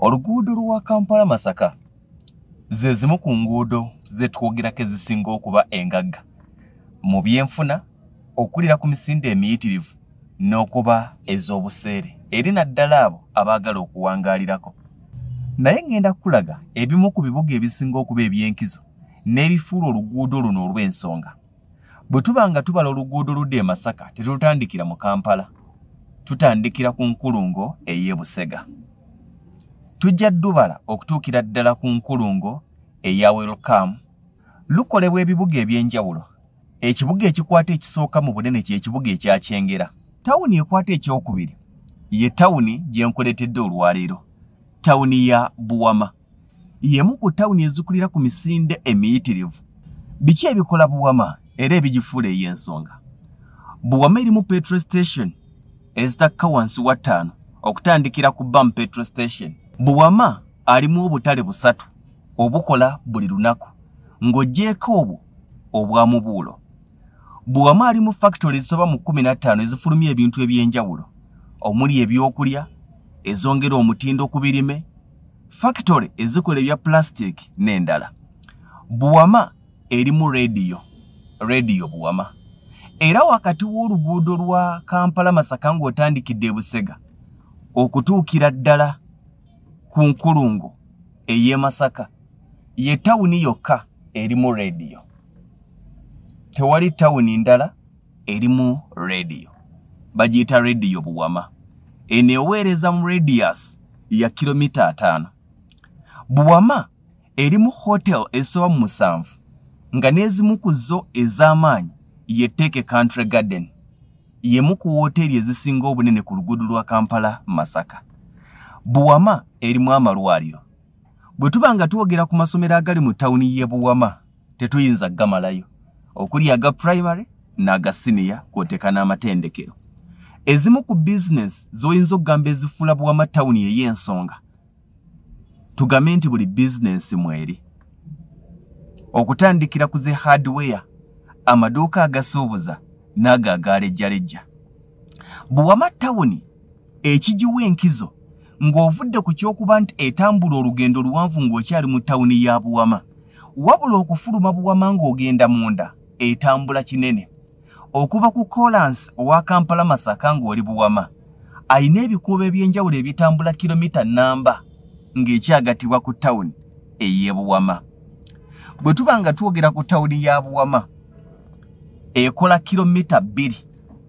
Oluguudo lwa Kampala Masaka ze zimu ku nguudo zetwogerako ezisinga okuba engagga mu byenfuna okulira ku misinde emiyitirivu n'okuba ez'obuseere eri naddala abo abaagala okuwangaalirako naye ŋŋenda kukulaga ebimu ku bibuga ebisinga okuba eby'enkizo n'ebifuula oluguudo luno olw'ensonga bwe tuba nga tubala oluguudo ludda e masaka tetutandikira mu kampala tutandikira ku nkulungo ey'e busega tujja dubala okutuukira ddala ku nkulungo eya welcome lukolebwa ebibuga eby'enjawulo ekibuga ekikwata ekisooka mu bunene kyekibuga ekyakyengera tawuni ekwata ekyokubiri ye tawuni gyenkuleetedde olwaleero tawuni ya buwama y'emu ku tawuni ezikulira ku misinde emiyitirivu. Biki ebikola Buwama era ebigifuula ey'ensonga? Buwama erimu petrol station ezitakka wansi wa ttaano okutandikira ku Bam petrol station. Buwama alimu obutale busatu obukola buli lunaku ng'oggyeeko obwo obwa mubuulo. Buwama alimu fakitole ezisoba mu kkumi na ttaano ezifulumya ebintu eby'enjawulo omuli ebyokulya ezongera omutindo ku birime, fakitole ezikola ebya pulasitiiki n'endala buwama erimu rediyo rediyo buwama era wakati w'oluguudo lwa kampala masaka ng'otandikidde ebusega okutuukira ddala ku nkulungo ey'e masaka ye tawuni yokka erimu rediyo tewali tawuni ndala erimu radio bagiyita radio buwama eno eweereza mu radius ya kilomita ataano buwama erimu hotel esoba mu musanvu nga n'ezimu ku zo ez'amaanyi ye teke country garden yemu ku wooteeri ezisinga obunene ku luguudo lwa kampala masaka buwama erimu amalwaliro bwe tuba nga twogera ku masomero agali mu tawuni y'e buwama tetuyinza gamalayo okuli aga primary n'aga siniya kwoteka n'amatendekero ezimu ku bizinesi z'oyinza okugamba ezifuula buwama tawuni ey'ensonga tugambe nti buli bizinesi mweri okutandikira ku zi hardware amaduuka agasuubuza n'ago agaalejjalejja Buwama tawuni ekigiwa enkizo ng'ovudde ku ky'okuba nti etambula olugendo luwanvu ng'okyali mu tawuni ya Buwama. Wabula okufuluma Buwama ng'ogenda munda etambula kinene. Okuva ku koolansi owa Kampala Masaka ng'oli Buwama, alina ebikuubo eby'enjawulo ebitambula kiromita nnamba ng'ekyagattibwa ku tawuni ey'e Buwama. Bwe tuba nga twogera ku tawuni ya Buwama, ekola kiromita bbiri.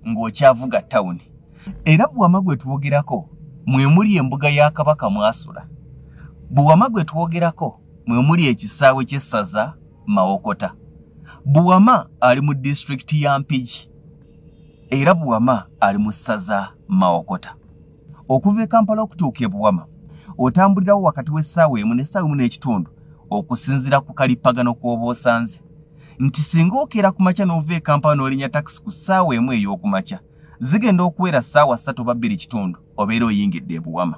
ng'okyavuga tawuni era buwama gwe twogerako mwe muli embuga ya kabaka mwasula buwama gwe twogerako mwe muli ekisaawe ky'essaza mawokota buwama ali mu disitulikiti ya mpigi era buwama ali mu ssaza mawokota okuva e kampala okutuuka e buwama otambulirawo wakati w'essaawa emu n'essaawa emu n'ekitundu okusinzira ku kalippagano kw'oba osanze nti singa okeera ku makya n'ova e kampala n'olinya takisi ku ssaawa emu ey'oku makya zigenda okuwera ssaawa ssatu oba bbiri kitundu obeera oyingidde ebuwama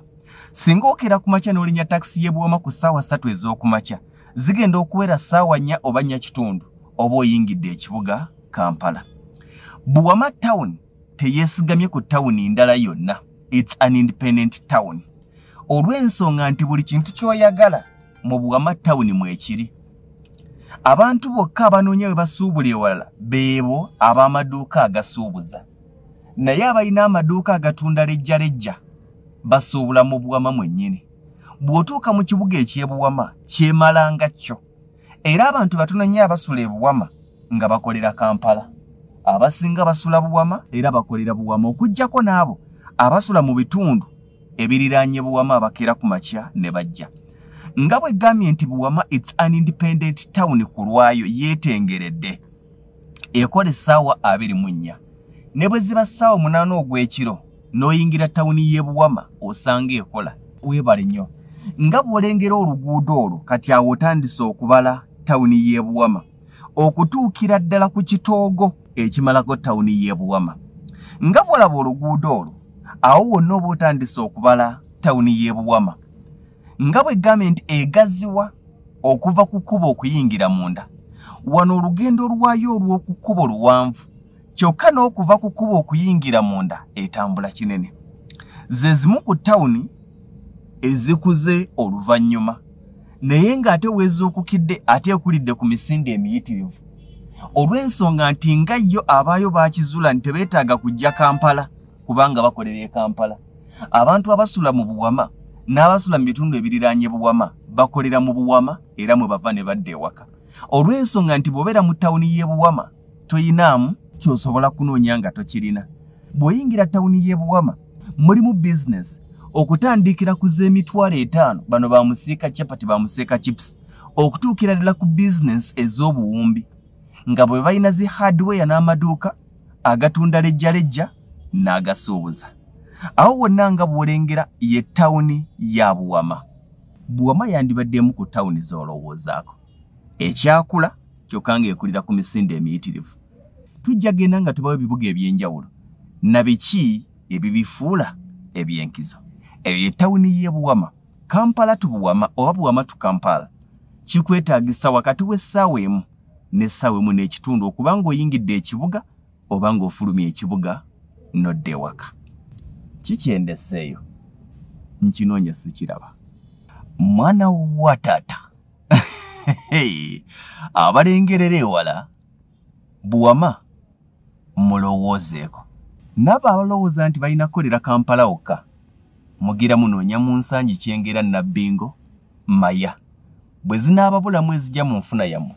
singa okeera ku makya n'olinya takisi y'ebuwama ku ssaawa ssatu ez'oku makya zigenda okuwera ssaawa nnya oba nnya kitundu oba oyingidde ekibuga kampala buwama tawuni teyesigamye ku tawuni ndala yonna its an independent town olw'ensonga nti buli kintu kyoyagala mu buwama tawuni mwekiri abantu bokka abanoonya we basuubula ewalala beebo ab'amaduuka agasuubuza naye abalina amaduuka agatunda lejjalejja basuubula mu buwama mwennyini bw'otuuka mu kibuga ekyebuwama kyemalanga kyo era abantu batono nnyo abasula ebuwama nga bakolera Kampala. Abasinga basula Buwama era bakolera Buwama okuggyako n'abo abasula mu bitundu ebiriraanye Buwama abakeera ku makya ne bajja. Nga bwe ggambye nti Buwama it's an independent town ku lwayo yeetengeredde ekola essaawa abiri mu nnya. Ne bwe ziba ssaawa munaana ogw'ekiro n'oyingira tawuni y'e Buwama osanga ekola. Weebale nnyo. Nga bw'olengera oluguudo olwo kati awo otandise okubala tawuni y'e Buwama. okutuukira ddala ku kitoogo ekimalako tawuni y'e Buwama. Nga bw'olaba oluguudo olwo, awo wonna oba otandise okubala tawuni y'e Buwama. Nga bwe gambye nti egaziwa okuva ku kkubo okuyingira munda, wano olugendo lwayo olw'oku kkubo luwanvu, kyokka n'okuva ku kkubo okuyingira munda etambula kinene. Ze zimu ku tawuni ezikuze oluvannyuma. naye ng'ate weezuukukidde ate ekulidde ku misinde emiyitirivu olw'ensonga nti nga yo abaayo baakizuula nti tebeetaaga kujja kampala kubanga bakolera e kampala abantu abasula mu buwama n'abasula mu bitundu ebiriraanye buwama bakolera mu buwama era mwe bava ne badda ewaka olw'ensonga nti bw'obeera mu tawuni y'e buwama toyinaamu kyosobola kunoonya nga tokirina bw'oyingira tawuni y'e buwama mulimu bizinesi okutandikira ku z'emitwalo etaano bano ba musiika chapati ba musiika chips okutuukira ddala ku bizinesi ez'obuwumbi nga bwe balina zi hardware n'amaduuka agatunda lejjalejja n'agasuubuza awo wonna nga bw'olengera ye tawuni ya buwama buwama yandibadde emu ku tawuni z'olowoozaako ekyakula kyokka ng'ekulira ku misinde emiyitirivu tujja genda nga tubawo ebibuga eby'enjawulo na biki ebibifuula eby'enkizo eyo etawuni y'e buwama kampala tu buwama oba buwama tu kampala kikwetaagisa wakati w'essaawa emu n'essaawa emu n'ekitundu okuba ng'oyingidde ekibuga oba ng'ofulumya ekibuga n'odda ewaka kikyendeseeyo nkinoonya sikiraba mwana wa taata abalengerera ewala buwama mulowoozeeko nabo abalowooza nti balina kukolera kampala wokka mugira munoonya mu nsangi kyengera nabbingo maya bwe zinaababulamu ezija mu nfuna yammwe